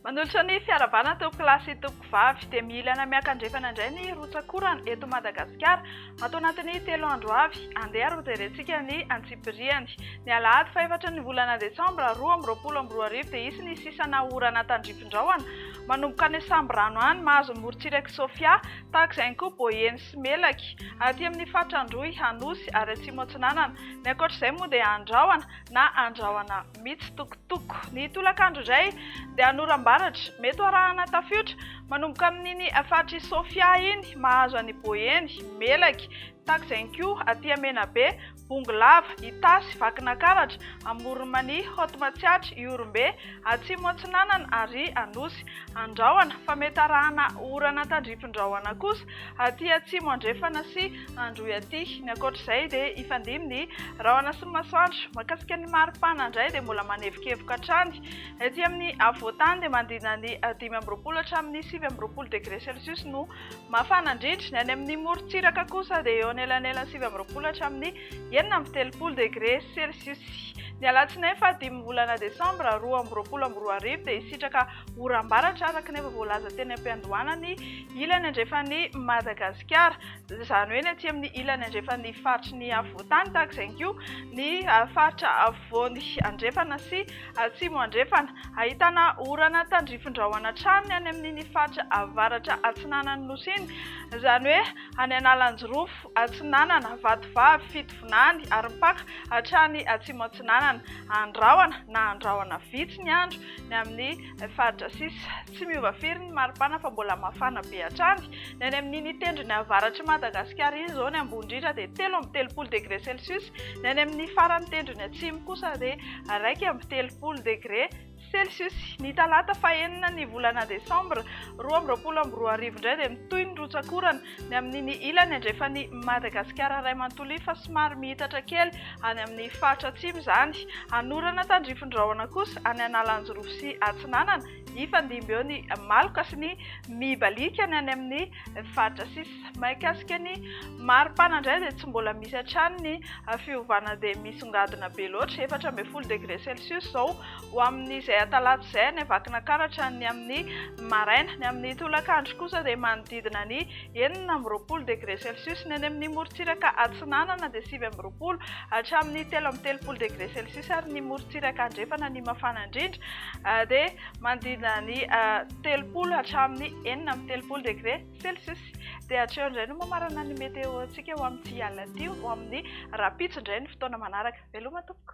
Manolotra ny fiarahabana tompokolahy sy tompokovavy dia mila na miaka-andrefana indray ny rotsak'orana eto Madagasikara. Ato anatin'ny telo andro avy, andeha ary hojerentsika ny antsipiriany. Ny alahady fahefatra ny volana desambra roa amby roapolo amby roa arivo dia hisy ny sisana orana tandrifin-drahona, manomboka any Sambirano any, mahazo ny morontsirak'i Sofia, tahaka izay ihany koa Boeny sy Melaky, aty amin'ny faritra Androy, Anosy ary Atsimo Atsinanana. Ny ankoatra izay moa dia andrahona na andrahona. mitsitokotoko. Ny tolakandro indray dia hanoram-baratra, mety ho arahana tafiotra, manomboka amin'iny faritr'i Sofia iny, mahazo an'i Boeny, Melaky, Takzenko, Atia Menabe, Bongolava, Itasy, Vakinakaratra, Amoron'Mania, Haute Matsiatra, Ihorombe, Atsimo Atsinanana ary Anosy. Andrahona fa mety arahana orana tandrifindrahona kosa aty Atsimo Andrefana sy Androy aty. Ny ankoatra izay dia hifandimby ny rahona sy ny masoandro. Mahakasika ny maripana indray dia mbola manevokevoka hatrany. Ety amin'ny afovoan-tany dia manodidina ny dimy amby roapolo hatramin'ny sivy amby roapolo degré celsius no mafana indrindra. Ny any amin'ny morontsiraka kosa dia eo anelanelan'ny sivy amby roapolo hatramin'ny enina amby telopolo degré celsius. Ny alatsinainy fahadimy volana desambra roa amby roapolo amby roa arivo dia hisitraka oram-baratra araka ny efa voalaza teny am-piandohana ny ilany andrefan'i Madagasikara. izany hoe ny aty amin'ny ilany andrefan'ny faritry ny afovoantany tahaka izay ihany koa ny faritra afovoany andrefana sy atsimo andrefana. Ahitana orana tandrifindrahona hatrany any amin'iny faritra avaratra atsinanan'ny Nosy iny, izany hoe any Analanjirofo atsinanana, Vatovavy, Fitovinany ary mipaka hatrany atsimo atsinanana. Andrahona na andrahona vitsy ny andro ny amin'ny faritra sisa. Tsy miova firy ny maripana fa mbola mafana be hatrany. Ny any amin'iny tendrony avaratr'i Madagasikara iny izao ny ambony indrindra dia telo amby telopolo degré celcius, ny any amin'ny faran'ny tendrony atsimo kosa dia iraika amby telopolo degré celcius. Ny talata fahenina ny volana desambra roa amby roapolo amby roa arivo indray dia mitohy ny rotsak'orana ny amin'iny ilany andrefan'i Madagasikara iray manontolo iny fa somary mihitatra kely any amin'ny faritra atsimo izany. Hanorana tandrifin-drahona kosa any Analanjirofo sy Atsinanana. Hifandimby eo ny maloka sy ny mibalika ny any amin'ny faritra sisa. Mahakasika ny maripana indray dia tsy mbola misy hatrany ny fiovana dia misongadina be loatra, efatra ambin'ny folo degré celsius izao ho amin'izay atalata izay any Vakinakaratra ny amin'ny maraina. Ny amin'ny tolakandro kosa dia manodidina ny enina amby roapolo degré celsius ny any amin'ny morontsiraka atsinanana dia sivy amby roapolo hatramin'ny telo amby telopolo degré celsius ary ny morontsiraka andrefana ny mafana indrindra dia manodidina ny telopolo hatramin'ny enina amby telopolo degré celsius. Dia hatreo indray no mamarana ny météo antsika ho amin'ity alina ity ho amin'ny rahampitso indray ny fotoana manaraka. Veloma tompoko.